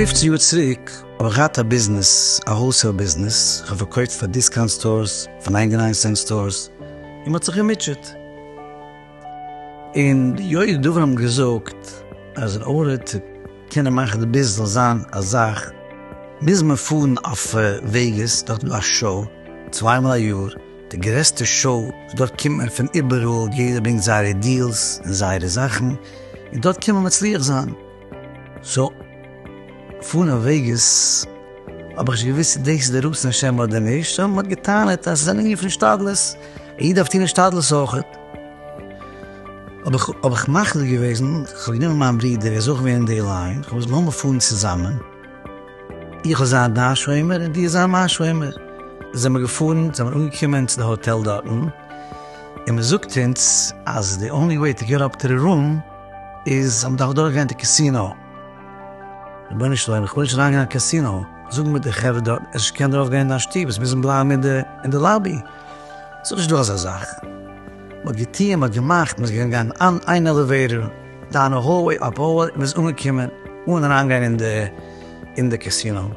פֿופֿצן יאר צוריק האב איך געהאט א ביזנעס, א האלסעיל ביזנעס, איך האב פארקויפט פאר דיסקאונט סטארס, פאר ניינטי ניין סענט סטארס, און מען האט זיך געמוטשעט. און די יודעי דבר האבן געזאגט אז אין ארער צו קענען מאכן די ביז זאל זיין א זאך מוז מען פארן אויף וועגעס דארט איז דא א שאו צוויי מאל א יאר די גרעסטע שאו וואס דארט קומט מען פון איבעראל יעדער ברענגט זייערע דיעלס און זייערע זאכן און דארט קען מען מצליח זיין סאו פארן אויף וועגעס האב איך נישט געוויסט צו דאס איז די רצון השם אדער נישט סאו מען האט געטענה'ט אז עס איז א ענין פון השתדלות און יעדער דארף טון השתדלות אויכעט. האב איך מחליט געוועזן, איך האב גענומען מיין ברודער, ער איז אויך געווען אין די ליין, איך האב געזאגט לאמיר פארן צוזאמען, איך וועל זיין דיין שומר און דו זיי מיין שומר. זעמער געפארן, זעמער אנגעקומען צו די האטעל דארטן, און מען זאגט אונז אז די אנלי וועי טו געט אפ טו די רום איז אז מען דארף אדורך גיין די קאסינאו. רבונו של עולם, איך וויל נישט אריין גיין אין קאסינאו, זאג מיר די חברה דארטן, עס איז נישט קיין דרך ארויף גיין אין דיין שטוב, עס מוזן בלייבן אין די לאבי. ס'איז נישט דא אזא זאך. מ'האט געטוען, מ'האט געמאכט, מ'איז געגאנגען גיין אן איין עלעוועיטאר, דאן א האלוועי, אפ האלוועי, און מ'איז אנגעקומען אן אריינגיין אין די אין די קעסינא. און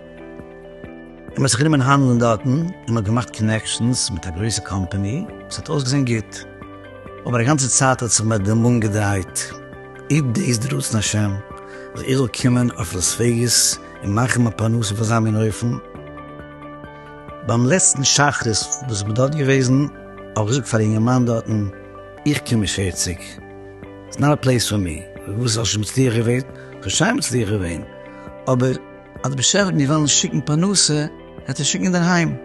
מ'האט זיך גענומען האנדלען דארטן, און מ'האט געמאכט קאנעקשאנס מיט א גרויסע קאמפאני, עס האט אויסגעזען גוט, אבער א גאנצע צייט האט זיך מיר דער מאן געדרייט, איז דאס די רצון השם, אז איך זאל קומען אויף לאס וועגאס און מאכן מיין פרנסה אויף אזא מין אופן? ביים לעצטן שחרית וואס איך בין דארט געוועזן, האב איך געזאגט פאר א אינגערמאן דארטן, איך קום אין פֿערציק, איטס נאט א פלעיס פאר מי, וואס האסט נישט מצליח געווען? כ'האב שיין מצליח געווען, אבער אז די באשעפער האט מיר וועלן שיקן פרנסה, העט ער שיקן אינדערהיים.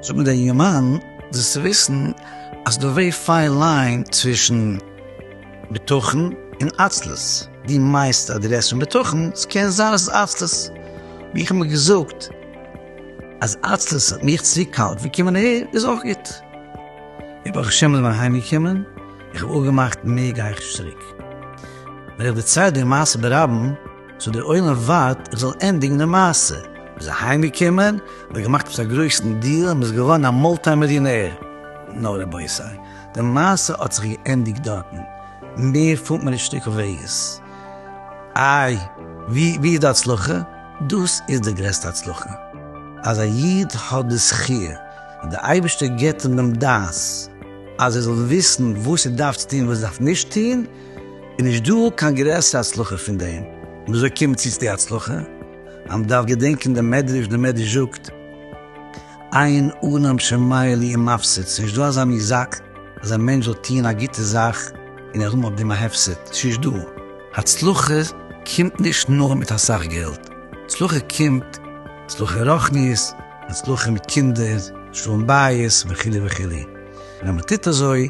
זאגט מיר דער אינגערמאן, זאלסט וויסן אז ס'דא ווערי פיין ליין צווישן בטחון און עצלות, דו מיינסט אז דו רעדסט פון בטחון, ס'קען זיין אז ס'איז עצלות, ווי איך האב מיר געזאגט, אז עצלות האט מיך צו קאלט ווי קומען אהער איז אויך גוט. ווי ברוך השם איז מען אהיים געקומען, איך האב אפגעמאכט מער גיי איך נישט צוריק. ווען איך דערצייל די מעשה ברבים, סאו דער עולם ווארט איך זאל ענדיגן די מעשה, מען איז אהיים געקומען, מען האט געמאכט עפעס א גרויסן דיעל און מען איז געווארן א מולטי מיליאנער. נא רבותי, די מעשה האט זיך געענדיגט דארטן, מער פארט מען נישט שטיקל וועגעס. איי ווי איז די הצלחה? דאס איז די גרעסטע הצלחה, אז א איד האט די זכי' אז די אייבערשטער געבט אים דעם דעת אז ער זאל וויסן וואס ער דארף צו טון און וואס ער דארף נישט טון, איז נישט דא קיין גרעסערע הצלחה פון דעם, און אזוי קומט צו צו די הצלחה אז מען דארף געדענקען דעם מדרש, דער מדרש זאגט. עיין אדם שמאיר לי עם מפסיד, ס'נישט דא אזא מושג אז א מענטש זאל טוהן א גוטע זאך און ער האבן אויף דעם א הפסד, ס'נישט דא. הצלחה קומט נישט נאר מיט אסאך געלט, הצלחה קומט הצלחה רוחנית, הצלחה מיט קינדער, שלום בית, וכו' וכו', און אז מ'טוט אזוי,